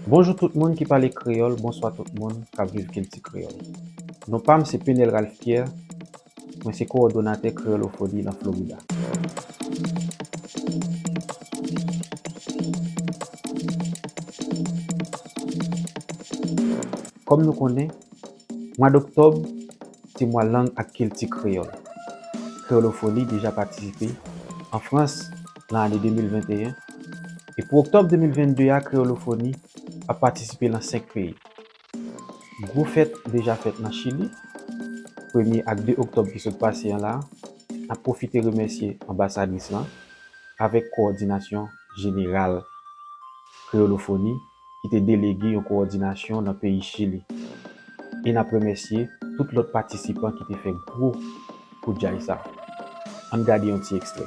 Bonjou tout moun ki pale kreyòl bonswa tout moun kap viv kilti kreyòl non pam se Penel Ralph Pierre mwen se kowòdonatè kreyolofoni lan Florida. Kòm nou konnen Mwa doktòb se mwa lang ak kilti kreyòl. Kreyolofoli deja patisipe an Frans lan ane 2021 e pou oktòb 2022 a kreyolofoni ap patisipe lan 5 peyi. Gwo fèt deja fèt lan Chili, premye ak 2 oktòb ki sot pase an la, n ap pwofite remèsye anbasadris lan avèk kowòdinasyon jeneral kreyolofoni ki te delege yon kowòdinasyon nan peyi Chili. E n ap remèsye tout lòt patisipan ki te fè gwo kout djay sa. An n gade yon ti ekstrè.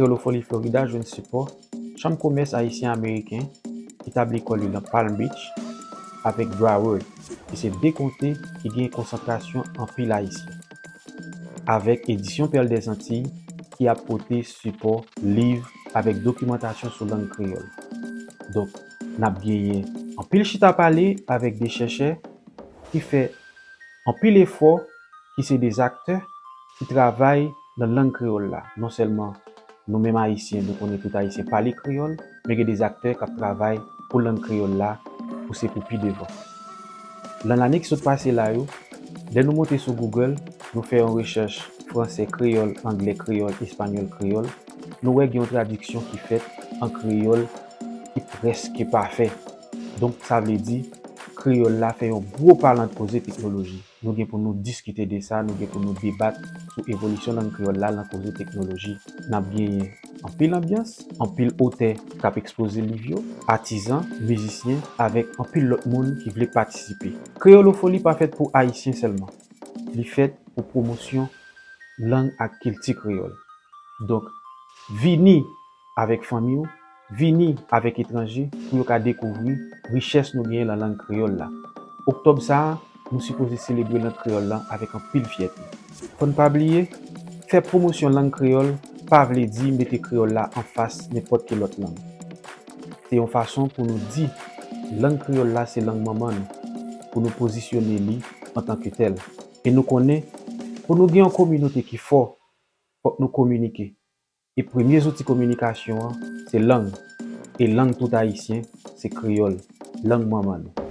Kreolofoli Florida jwenn sipò Chanm Komès Ayisyen-Ameriken ki tabli kò li nan Palm Beach avèk Broward ki se 2 konte ki gen konsantrasyon anpil Ayisyen, avèk Edisyon Pèl dè Zantiy ki ap pote sipò liv avèk dokimantasyon sou lang kreyòl. Donk. N ap genyen anpil chita pale avèk de chèchè ki fè anpil efò, ki se de aktè ki travay nan lang kreyòl la. Non sèlman nou menm Ayisyen nou konnen tout Ayisyen pale kreyòl, men gen de aktè k ap travay pou lang kreyòl la pou se pou pi devan. Nan lane ki sot pase la yo, lè nou monte sou Google, nou fè yon rechèch franse kreyòl, angle kreyòl, espanyòl kreyòl, nou wè gen yon tradiksyon ki fèt an kreyòl, ki prèske pafè. Donk sa vle di, kreyòl la fè yon gwo pa lan koze teknoloji. Nou gen pou nou diskite de sa, nou gen pou nou debat sou evolisyon lang kreyòl la lan koze teknoloji. N ap genyen anpil anbyans, anpil otè k ap ekspoze liv yo, atizan, mizisyen avèk anpil lòt moun ki vle patisipe. Kreyolofoli pa fèt pou Ayisyen sèlman. Li fèt pou pwomosyon lang ak kilti kreyòl. Donk, vini! avèk fanmi w, vini avèk etranje pou yo ka dekouvri richès nou genyen lan lang kreyòl la. Oktòb sa a, nou sipoze selebre lang kreyòl lan avèk anpil fyète. Fò n pa bliye, fè pwomosyon lang kreyòl pa vle di mete kreyòl la anfas nenpòt ki lòt lang. Se yon fason pou nou di lang kreyòl la se lang manman nou, pou nou pozisyone li antanke tèl. E nou konnen, pou nou gen yon kominote ki fò, fòk nou kominike. E premye zouti kominikasyon an se lang, e lang tout Ayisyen se kreyòl, lang manman nou.